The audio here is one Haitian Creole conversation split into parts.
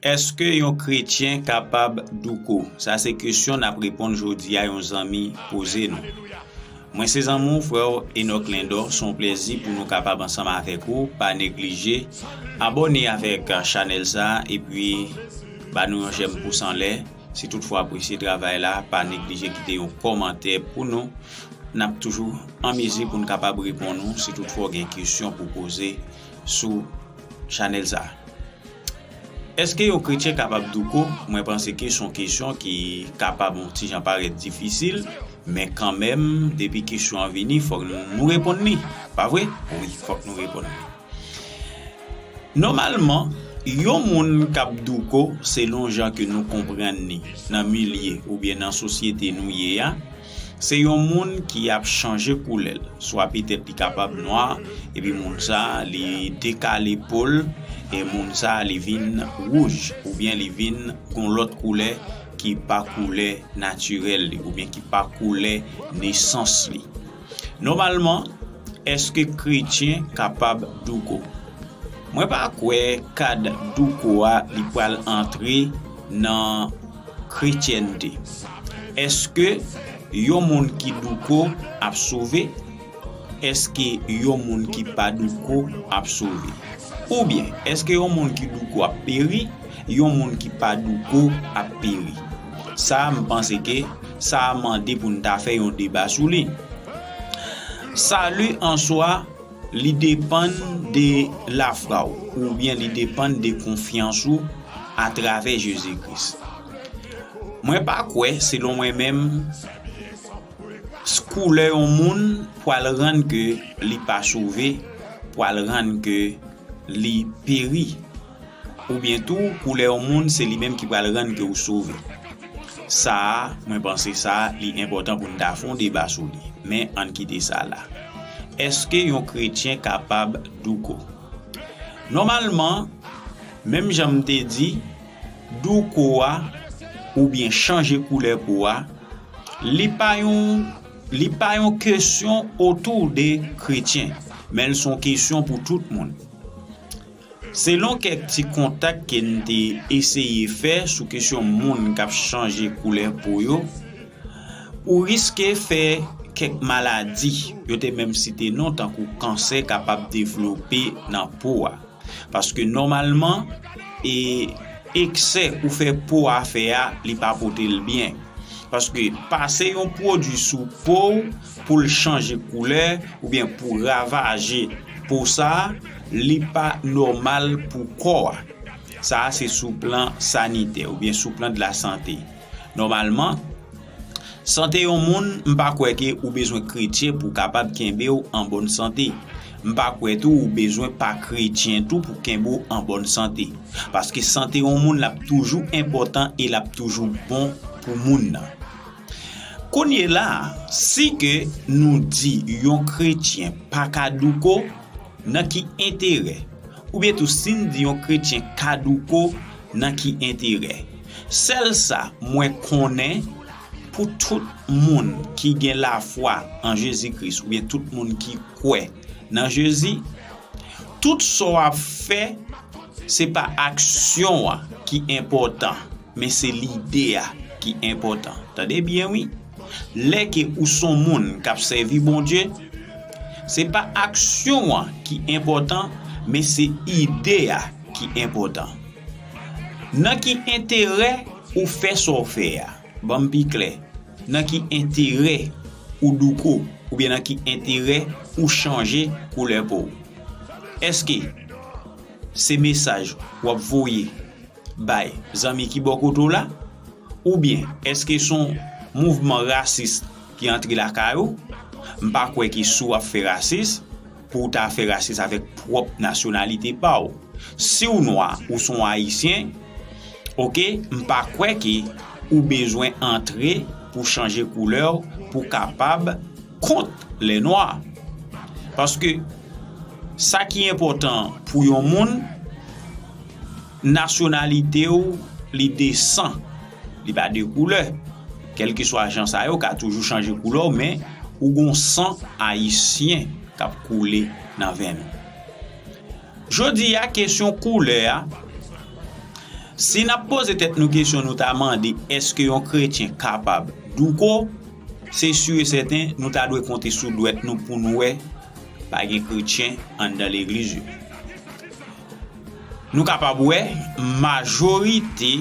Eske yon kretyen kapab douko? Sa se kesyon nap reponn jodi a yon zanmi poze nou. Mwen se zanmi w frè w Enock Lindor son plezi pou nou kapab ansanm avèk ou pa neglije abòne avèk chanèl sa epi ba nou yon jèm pous anlè si tout fwa apresye travay la pa neglije kite yon kòmantè pou nou nap toujou an mezi pou nou kapab reponn ou si tout fwa gen kesyon pou poze sou chanel sa. Eske yon kretyen kapab douko? Mwen panse ke son kesyon ki kapab yon ti jan parèt difisil, men kanmenm depi kesyon an vini fòk nou reponn li. Pa vre? Wi, fòk nou reponn li. Nòmalman, yon moun kap douko selon jan ke nou konprann li nan milye oubyen nan sosyete nou ye a, Se yon moun ki ap chanje koulè l, swa petèt li kapab nwa epi moun sa li dekale po l e moun sa li vin wouj oubyen li vin yon lòt koulè ki pa koulè natirèl li oubyen ki pa koulè nesans li. Nòmalman, èske kretyen kapab douko? Mwen pa kwè kad douko a li pral antre nan. Kretyènte. Èske yon moun ki douko ap sove? Èske yon moun ki pa douko ap sove? Oubyen, èske yon moun ki douko ap peri? Yon moun ki pa douko ap peri. Sa a, m panse ke sa a mande pou n ta fè yon deba sou li. Sali an swa. Li depann de lafwa w oubyen li depann de konfyans ou atravè Jezi Kris. Mwen pa kwè, selon mwen menm, koulè yon moun pwal rann ke li pa sove, pwal rann ke li peri. Oubyen tou koulè yon moun se li menm ki pral rann ke ou sove. Sa a, mwen panse sa a, li enpòtan pou n ta fè yon deba sou li. Men, an n kite sa la. Èske yon kretyen kapab douko? Nòmalman, menm jan m te di, douko a, oubyen chanje koulè po a, li pa yon, li pa yon kesyon otou de kretyen. Men l se yon kesyon pou tout moun. Selon kèk ti kontak ke n te eseye fè sou kesyon moun k ap chanje koulè po yo, ou riske fè kèk maladi, yo te menm site non tankou kansè kapab devlope nan po a. Paske nòmalman, e eksè ou fè po a fè a li pa pote l byen. Paske pase yon pwodui sou po ou pou l chanje koulè oubyen pou ravaje po sa a, li pa nòmal pou kò a. Sa a se sou plan sanitè oubyen sou plan de la sante. Nòmalman, sante yon moun, m pa kwè ke ou bezwen kretyen pou kapab kenbe w an bòn sante. M pa kwè tou ou bezwen pa kretyen tou pou kenbe w an bòn sante. Paske sante yon moun l ap toujou enpòtan e l ap toujou bon pou moun nan. Kounye la, si ke nou di yon kretyen pa ka douko, nan ki enterè? Oubyen tou si n di yon kretyen ka douko, nan ki enterè? Sèl sa mwen konnen, pou tout moun ki gen lafwa an Jezi Kris oubyen tout moun ki kwè, nan jezi tout sa w ap fè se pa aksyon an ki enpòtan men se lide a ki enpòtan tande byen wi lè ke ou s on moun k ap sèvi Bondye se pa aksyon an ki enpòtan men se ide a ki enpòtan nan ki enterè ou fè sa w fè a. Banm pi klè, nan ki enterè ou douko oubyen nan ki enterè ou chanje koulè pow? Eske se mesaj wap voye bay zanmi ki bò kote w la oubyen eske son mouvman rasis ki antre lakay ou? M pa kwè ke si w ap fè rasis. Pou w ta fè rasis avèk pwòp nasyonalite pa w. Si w nwa, ou son Ayisyen, ok, m pa kwè ke ou bezwen antre pou chanje koulè w pou kapab kont lè nwa. Paske sa ki enpòtan pou yon moun. Nasyonalite ou li de san, li pa de koulè. Kèlkeswa jan sa ye ou ka toujou chanje koulè w men ou gon san ayisyen k ap koule nan venn ou. Jodi a kesyon koulè a, si n ap poze tèt nou kesyon nou ta mande èske yon kretyen kapab douko, se si e sèten nou ta dwe konte sou dwèt nou pou n wè pa gen kretyen anndan legliz yo. Nou kapab wè majorite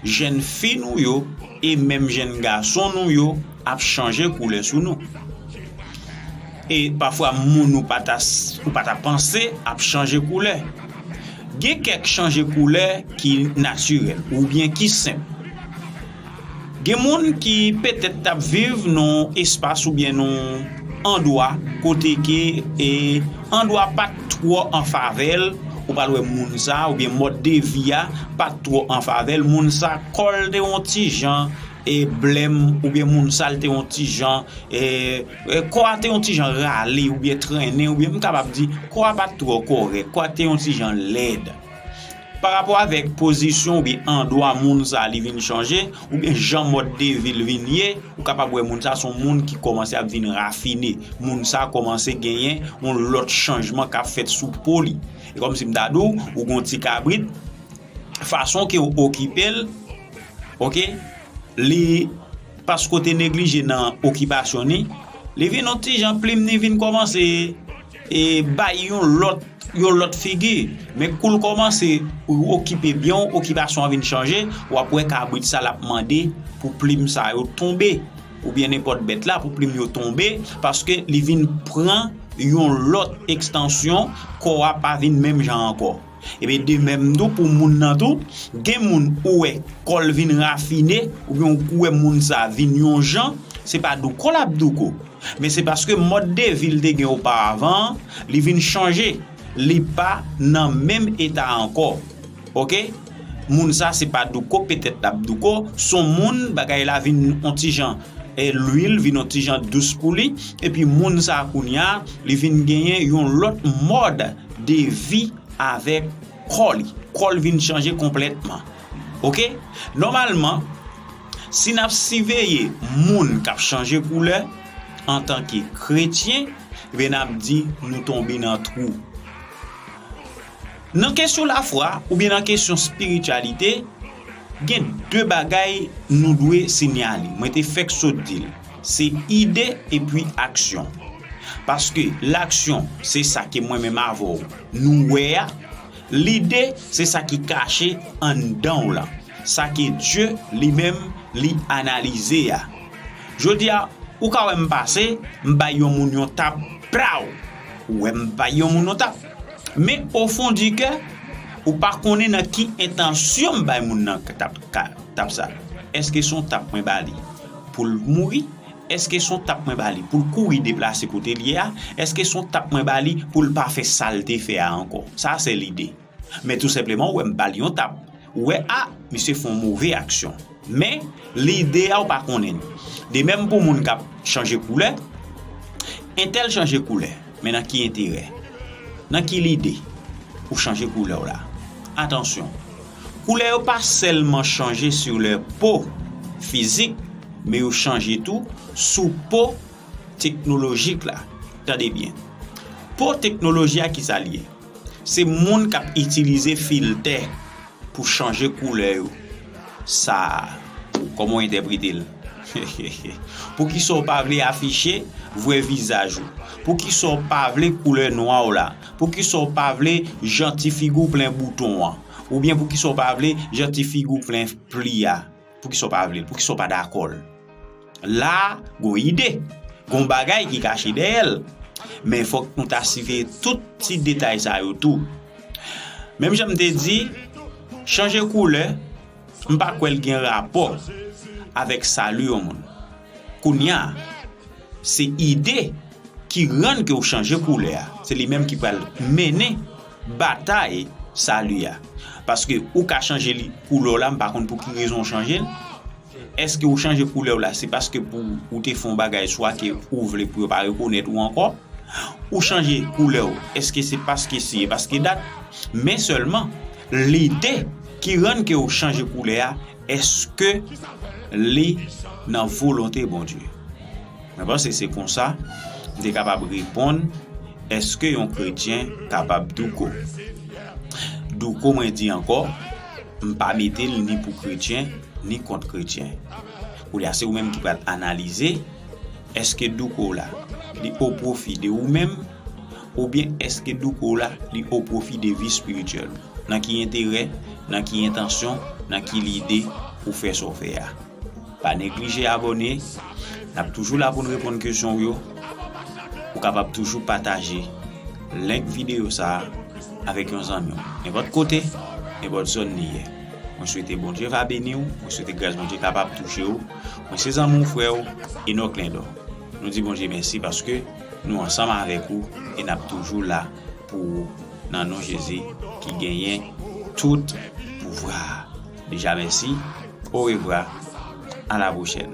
jenn fi nou yo e menm jenn gason nou yo ap chanje koulè sou nou. E pafwa moun ou pa ta panse ap chanje koulè. Gen kèk chanje koulè ki natirèl oubyen ki senp. Gen moun ki petèt t ap viv nan yon espas oubyen nan yon andwa kote ke andwa pa t twò an favè l, ou pral wè moun sa oubyen mòd de vi a pa t twò an favè l, moun sa kò l te yon ti jan blèm oubyen moun sa l te yon ti jan, kò a te yon ti jan rale oubyen trennen oubyen m kapab di kò a pa t twò kòrèk, kò a te yon ti jan lèd. Pa rapò avèk pozisyon oubyen andwa moun sa li vin chanje, oubyen jan mòd de vi l vin ye, ou kapab wè moun sa son moun ki kòmanse ap vin rafine. Moun sa kòmanse genyen yon lòt chanjman k ap fèt sou po li. E kòm si m ta di w, ou gen yon ti kabrit, fason ke w okipe l, ok, li, paske w te neglije nan okipasyon ni, li vin yon ti jan plim ni vin kòmanse. E bay yon lòt yon lòt figi. Men kou l kòmanse pou l okipe byen w, okipasyon an vin chanje, w ap wè kabrit sa l ap mande pou plim sa yo tonbe oubyen nenpòt bèt la pou plim yo tonbe paske li vin pran yon lòt ekstansyon, kò a pa vin menm jan ankò. Ebyen de menm tou pou moun nan tou, gen moun ou wè kò l vin rafine oubyen ou k wè moun sa vin yon jan, se pa douko l ap douko, men se paske mòd de vi l te gen oparavan an, li vin chanje, li pa nan menm eta ankò. Ok, moun sa se pa douko petèt l ap douko, s on moun bagay la vin on ti jan lwil, vin on ti jan dous pou li, epi moun sa kounya li vin genyen yon lòt mòd. de vi avèk kò li kò l vin chanje konplètman ok nòmalman si n ap siveye moun k ap chanje koulè antanke kretyen ebyen n ap di nou tonbe nan twou nan kesyon lafwa oubyen nan kesyon spirityalite gen de bagay nou dwe sinyale mwen te fèk sot di l. Se ide epi aksyon. Paske laksyon se sa ke mwen menm avè w nou wè a, lide se sa ki kache anndan w lan, sa ke Dye li menm li analize a. Jodi a, ou ka wè m pase, m bay yon moun yon tap, plow! Ou wè m bay yon moun yon tap. Men ofon di kè, ou pa konnen nan ki entansyon m bay moun nan tap sa. Eske se yon tap mwen ba li? pou l mouri? Èske s on tap mwen ba li pou l kouri deplase kote l ye a? Èske s on tap mwen ba li pou l pa fè sa l te fè a ankò? Sa se lide. Men tou senpleman ou wè m ba l yon tap. Ou wè a, misye fè yon move aksyon. Men, lide a ou pa konnen l. De menm pou moun k ap chanje koulè, Entèl chanje koulè, men nan ki enterè? Nan ki lide ou chanje koulè w la? Atansyon! Koulè yo pa sèlman chanje sou lè po fizik men yo chanje tou sou po teknolojik la. Tande byen. Po teknoloji a ki sa l ye? Se moun k ap itilize filtè pou chanje koulè yo. Sa a, kòman w entèprete l? Hehehhe. Poukisa w pa vle afiche vrè vizaj ou? Poukisa w pa vle koulè nwa w la? Poukisa w pa vle jan ti figi w plen bouton an? Oubyen poukisa w pa vle jan ti figi w plen pli a? Poukisa w pa vle l? Poukisa w pa dakò l? La a, gon ide. Gon bagay ki kache dèyè l. Men fòk nou ta siveye tout ti detay sa yo tou. Menm jan m te di, chanje koulè, m pa kwè l gen rapò avèk sali yon moun. Kounya se ide ki rann ke w chanje koulè a. Se li menm ki pral mennen batay sali a. Paske ou ka chanje li koulè w la, m pa konn pou ki rezon w chanje l. Eske ou chanje koulè w la se paske pou ou te fè yon bagay swa ke ou vle pou yo pa rekonèt ou ankò. Ou chanje koulè w eske se paske si e paske dat. Men sèlman lide ki rann ke w chanje koulè a. Eske li nan volonte Bondye? Mwen panse se konsa m te kapab reponn eske yon kretyen kapab douko. Douko mwen di ankò, m pa mete l ni pou kretyen ni kont kretyen. Koulye a se ou menm ki pral analize eske douko w la li o pwofi de ou menm. Oubyen èske douko w la li o pwofi de vi espirityèl ou? Nan ki enterè, nan ki entansyon, nan ki lide ou fè sa w fè a? Pa neglije abòne, n ap toujou la pou n reponn kesyon w yo. Ou kapab toujou pataje link videyo sa a avèk yon zanmi w, nenpòt kote, nenpòt zòn li ye. Mwen swete Bondye va beni w, mwen swete gras Bondye kapab touche w. Mwen se zanmi w, frè w, Enock Lindor. Nou di Bondye mèsi paske. Nou ansanm avèk ou e nap toujou la pou ou nan non Jezi ki genyen tout pouvwa a. Deja mèsi, orevwa, a la pwochèn.